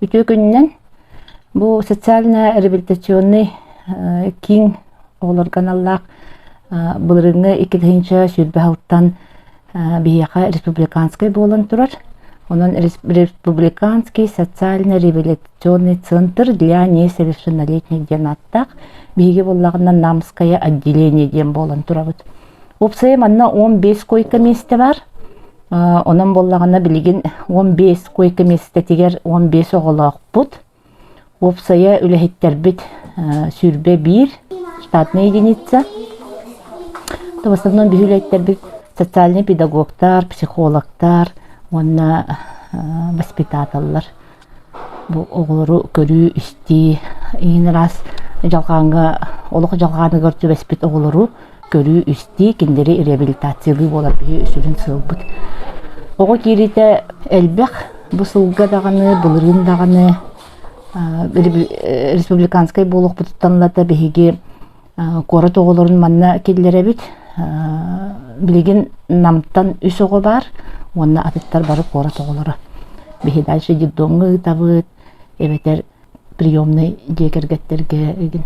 Үтүө күнүнэн бу социальнай реабилитационный киин оҕолорго аналлаах былырыыҥҥы иккитинчи сүүрбэ алтан биһиэхэ республиканскай буолан турар. Онон Республиканский социально-реабилитационный центр для несовершеннолетних диэн ааттаах биһиги буоллаҕына Намское отделение диэн буолан турабыт. Уопсайа манна 15 койка миэстэ бар. Онон буоллаҕына билигин 15 койка миэстэтигэр 15 оҕолоохпут. Уопсайа үлэһиттэрбит сүүрбэ биир штатная единица. То в основном биһилэйтэрбит социальный педагогтар, психологтар уонна воспитателлар бу оҕолору көрүү-истии иин араас дьалхааҥҥа олох дьалхааныгар түбэспит оҕолору көрүү-истии, кинилэри реабилитациялыы буолар биһи сүрүн сыалбыт. Оҕо киириитэ элбэх бу сылга даҕаны, былырыын даҕаны республиканскай буолуохпутуттан лата биһиги куорат оҕолорун манна киллэрэбит. Билигин Намтан үс оҕо баар уонна атыттар бары куорат оҕолоро. Биһи дальше детдомҥа ыытабыт, эбэтэр приемнай дьиэ кэргэттэргэ игин.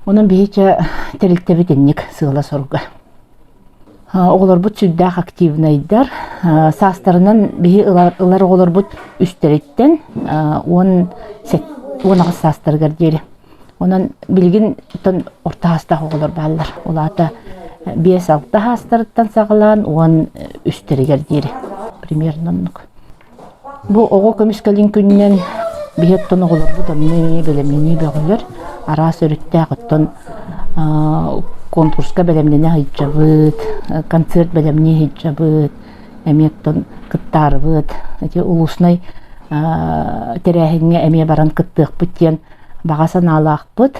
Онон биһичэ тэрилтэбит инник сыала-соруга. Оҕолорбут сүрдээх активнайдар. Саастарынан биһи ылар оҕолорбут үстэриттэн уон аҕыс саастарыгар диэри. Онон билигин орто саастаах оҕолор бааллар. Ол аата биэс-алта саастарыттан саҕалаан уон үстэригэр диэри примерно оннук. Бу оҕо көмүскэлин күнүнэн биһи оттон оҕолорбут онно эмиэ бэлэмнэнии бөҕөлөр. Араас өрүттээх оттон конкурска бэлэмнэнэ сылдьабыт, концерт бэлэмнии сылдьабыт, эмиэ оттон кыттаарыбыт. Ити улуснай тэрээһиҥҥэ эмиэ баран кыттыахпыт диэн баҕа санаалаахпыт.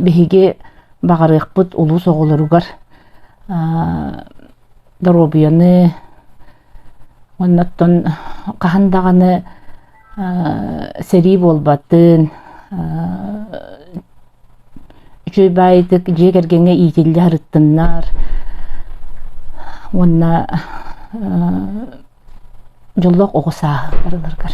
Биһиги баҕарыахпыт улуус оҕолоругар доруобуйаны уонна оттон хаһан даҕаны сэрии буолбатын үчүгэй баайытык дьиэ кэргэҥҥэ иитиллэ сырыттыннар уонна дьоллоох оҕо сааһы барыларгар